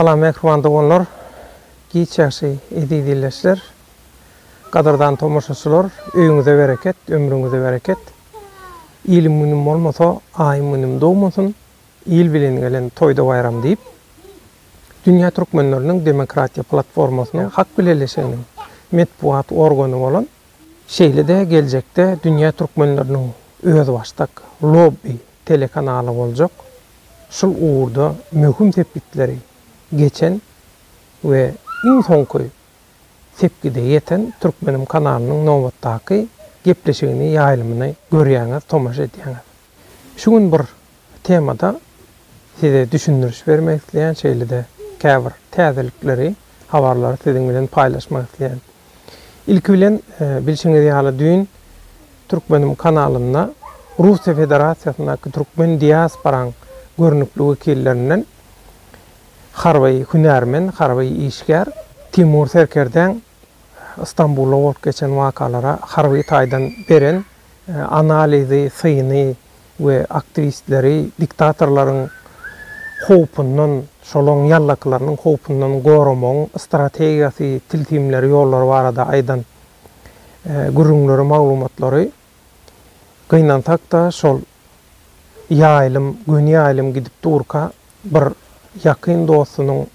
Salam mähriban doganlar, giç ýagşy eziz ildeşler, gadyrdan tomaşaçylar, öýüňize bereket, ömrüňize bereket. Ilim-günüm bolmasa, aýym-günüm dogmasyn. Il bilen gelen toýda-baýram diýip, Dünýä türkmenleriniň demokratiýa platformasynyň halk bileleşiginiň metbugat organy bolan, şeýle-de geljekde Dünýä türkmenleriniň özbaşdak lobbi telekanaly boljak, şul ugurda möhüm sepgitleri geçen we iň soňky sepgide ýeten Türkmenim kanalynyň nobatdaky gepleşigini ýaýlymyny görýäňiz, tomaşa edýäňiz. Şu gün bir temada size düşündiriş bermek isleýän, şeýle-de käbir täzelikleri, habarlary siziň bilen paýlaşmak isleýän. Ilki bilen, bilşiňiz ýaly, düýn Türkmenim kanalynda Russiýa Federasiýasyndaky türkmen diasporaň görnükli wekillerinden harby hünärmen, harby işgär Timur Serkerdäň Stambulda bolup geçen wakalara harby taýdan beren analizi, syny we aktiwistleri diktatorlaryň howpundan, şolaň ýallakylarynyň howpundan goramagyň strategiýasy, tilsimleri, ýollary barada aýdan gürrüňleri, maglumatlary gynansak-da şol ýaýlym, göni ýaýlym gidip durka, Bir ýakyn dostunyň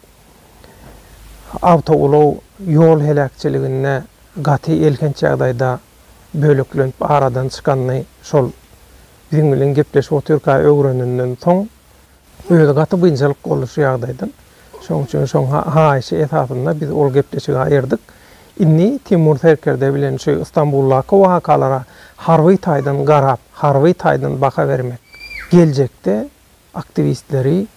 awtoulag ýol heläkçiliginde gaty elhenç ýagdaýda böleklenip aradan çykanyny şol biziň bilen gepleşip otyrka öwrenenden soň, özi gaty biynjalyk boldy şu ýagdaýdan. Şonuň üçin şoň haýyşy esasynda biz ol gepleşigi aýyrdyk. Indi Timur serkerde bilen şu Stambuldaky wakalara harby taýdan garap, harby taýdan baha bermek geljekde aktiwistleri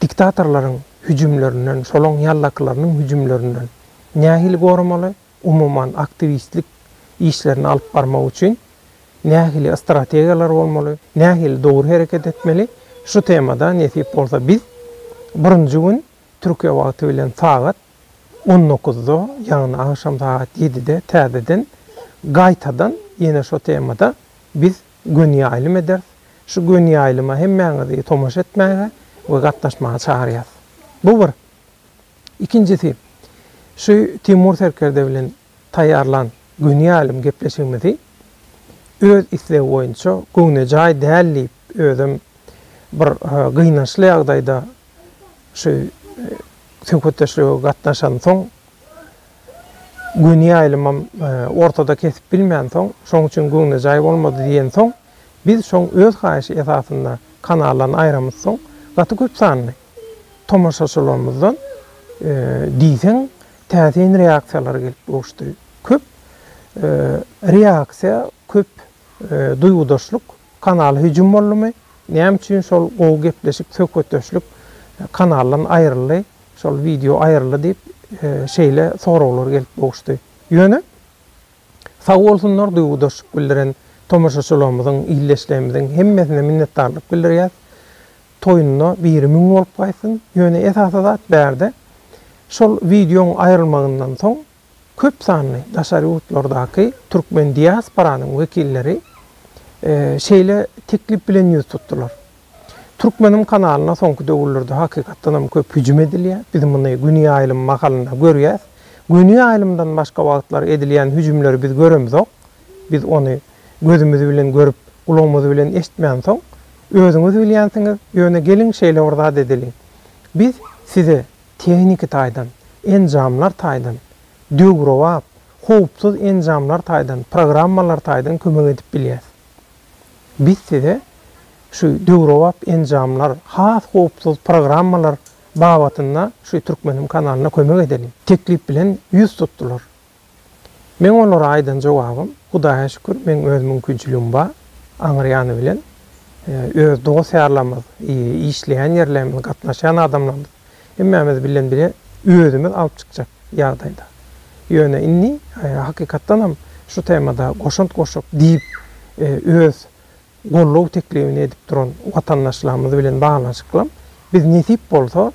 diktatorlaryň hüjümlerinden, şolaň ýallakylarynyň hüjümlerinden nähili goramaly, umuman aktiwistlik işlerini alyp barmak üçin nähili strategiýalar bolmaly, nähili dogry hereket etmeli, şu temada nesip bolsa biz birinji gün Türkiýe wagty bilen sagat on dokuzda, ýagny agşam sagat ýedide täzeden gaýtadan ýene şo temada biz göni ýaýlym ederis. Şu göni ýaýlyma hemmäňizi tomaşa etmäge we gatnaşmaga çagyrýas. Bu bir. Ikinjisi, şu Timur serkerde bilen taýýarlan göni ýaýlym gepleşigimizi öz islegi boýunça göwnejaý däl diýip, özem bir gynançly ýagdaýda şu söhbetdeşlige gatnaşansoň Göni ýaýlymam ortada kesip bilmänsoň, şoň üçin göwnejaý bolmady diýensoň, biz şoň öz haýyşy esasynda kanallaryny aýramyzsoň, gaty köp sanly tomaşaçylarymyzdan diýseň täsin reaksiýalar gelip gowuşdy. Köp reaksiýa, köp Duýgudaşlyk kanaly hüjüm boldumy, näme üçin şol gowy gepleşik, söhbetdeşlik kanaldan aýryldy, şol wideo aýryldy diýip, şeýle soraglar gelip gowuşdy. Ýöne, sag bolsunlar duýgudaşlyk bildiren tomaşaçylarymyzyň, ildeşlerimiziň hemmesine minnetdarlyk bildirýäs. Toýunda biri müň bolup gaýtsyn. Ýöne esasy zat bärde şol wideoň aýrylmagyndan soň Köp sanly daşary ýurtlardaky türkmen diasporanyň wekilleri şeýle teklip bilen ýüz tutdular. Türkmenim kanalyna soňky döwürlerde hakykatdanam köp hüjüm edilýär. Biz muny Güni ýaýlym mahalynda görýäs. Güni ýaýlymdan başga wagtlary edilýän hüjümleri biz göremzok. Biz ony gözümiz bilen görüp, gulagymyz bilen eşitmänsoň, özüňiz bilýänsiňiz, ýöne geliň şeýle bir zat edeliň. Biz size tehniki taýdan, enjamlar taýdan, döwrebap, howpsuz enjamlar taýdan, programmalar taýdan kömek edip bilýäs. Biz size şu döwrebap enjamlar, has howpsuz programmalar babatynda şu Türkmenim kanalyna kömek edeliň. Teklip bilen ýüz tutdular. Meň olara aýdan jogabym, Hudaýa şükür, meň öz mümkinçiligim bar, aňry ýany bilen, öz dost-ýarlarymyz, işleýän ýerlerimiz, gatnaşýan adamlarymyz, hemmämiz bilen bile özümiz alyp çykjak ýagdaýda. Ýöne indi, hakykatdanam, şu temada goşant goşup diýip, öz goldaw teklibini edip duran watandaşlarymyz bilen baglanyşyklam biz nesip bolsa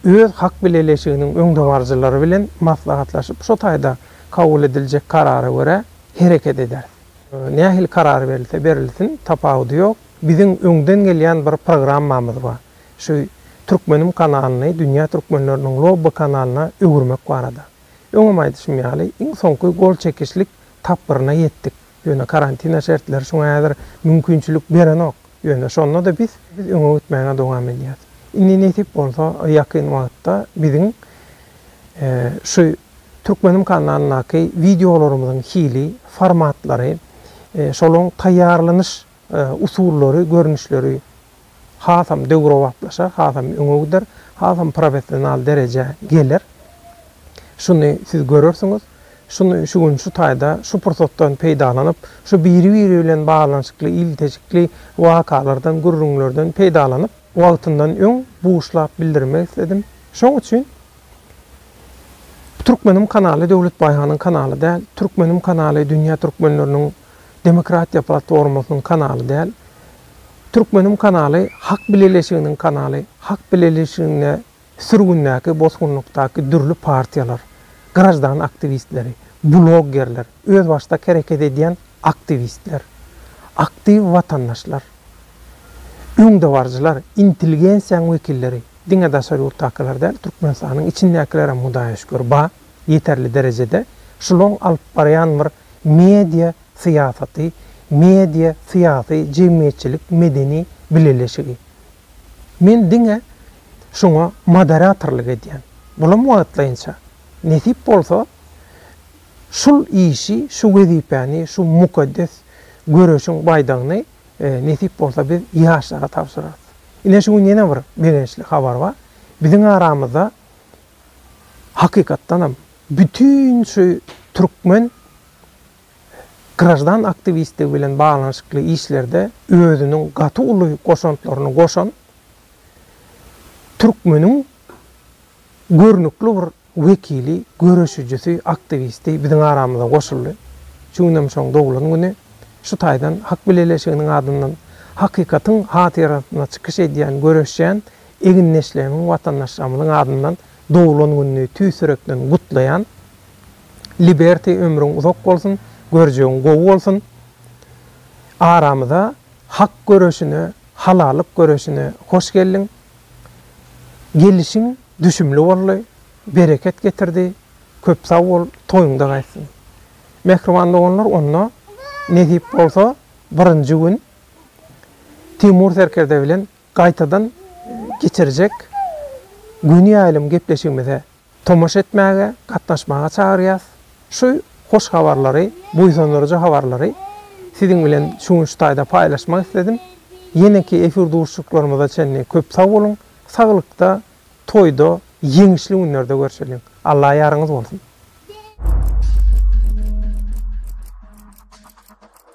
öz hak bileleşiginiň öňdebaryjylary bilen maslahatlaşyp şo taýda kabul ediljek karara görä hereket ederis. Nähili karar berilse berilsin tapawudy ýok, biziň öňden gelýän bir programmamyz bar, şu Türkmenim kanalyny dünýä türkmenleriniň lobby kanalyna öwürmek barada. Öňem aýdyşym ýaly iň soňky gol çekişlik tapgyryna ýetdik. Ýöne karantina şertleri şuňa häzir mümkinçilik berenok. Ýöne şonda-da biz biz öňe gitmäge dowam edýäs. Indi nesip bolsa ýakyn wagtda biziň şu Türkmenim kanalyndaky wideolarymyzyň hili, formatlary, şolaň taýýarlanyş usullary, görnüşleri hasam döwrebaplaşar, hasam öňe gider, hasam professional derejä geler. Şuny siz görersiňiz. Şuny şu gün şu taýda, şu pursatdan peýdalanyp, şu biri-biri bilen baglanyşykly il-tejikli wakalardan, gürrüňlerden peýdalanyp, wagtyndan öň buşlap bildirmek isledim. Şoň üçin Türkmenim kanaly Döwlet Baýhanyň kanaly däl, Türkmenim kanaly dünýä türkmenleriniň Demokratiýa platformasynyň kanaly däl. Türkmenim kanaly Hak bileleşiginiň kanaly. Hak bileleşiginde sürgündäki, bosgunlykdaky dürli partiýalar, graždan aktiwistleri, bloggerler, özbaşdak hereket edýän aktiwistler, aktiw watandaşlar, öňdebaryjylar, intelgensiýaň wekilleri, diňe daşary ýurtdakylar däl, Türkmenistanyň içindäkilerem hudaýa şükür ba, ýeterli derejede. Şulaň alyp barýan bir Media syýasaty, media syýasy jemgyýetçilik medeni bileleşigi. Men diňe şuňa moderatorlyk edýän. Bulam wagtlaýynça. Nesip bolsa, şul işi, şu wezipäni, şu mukaddes göreşiň baýdagyny nesip bolsa biz ýaşlara tabşyrarys. Ine şu gün ýene bir begençli habar bar. Biziň aramyzda hakykatdanam Bütin şu türkmen graždan aktiwistligi bilen baglanyşykly işlerde özüniň gaty uly goşantlaryny goşan türkmeniň görnükli bir wekili, göreşijisi, aktiwisti biziň aramyza goşuldy. Şu günem şoň doglan güni. Şu taýdan Hak bileleşiginiň adyndan hakykatyň hatyrasyna çykyş edýän, göreşýän egindeşlerimiň, watandaşlarymyzyň adyndan Doglan gününi tüýs ýürekden gutlaýan. Liberty ömrüň uzak bolsun, görjegiň gowy bolsun. Aramyza hak göreşine, halallyk göreşine hoş geldiň. Gelişiň düşümli boldy, bereket getirdi. Köp sag bol, toýuňda gaýtsyn. Mähriban doganlar onda nesip bolsa birinji gün Timur serkerde bilen gaýtadan geçirjek göni ýaýlym gepleşigimize tomaşa etmäge, gatnaşmaga çagyrýas. Şu hoş habarlary, buýsandyryjy habarlary siziň bilen şu gün şu taýda paýlaşmak isledim. Ýeneki efir duşuşyklarymyza çenli köp sag boluň, saglykda, toýda, ýeňişli günlerde görşeliň. Alla ýaryňyz bolsun!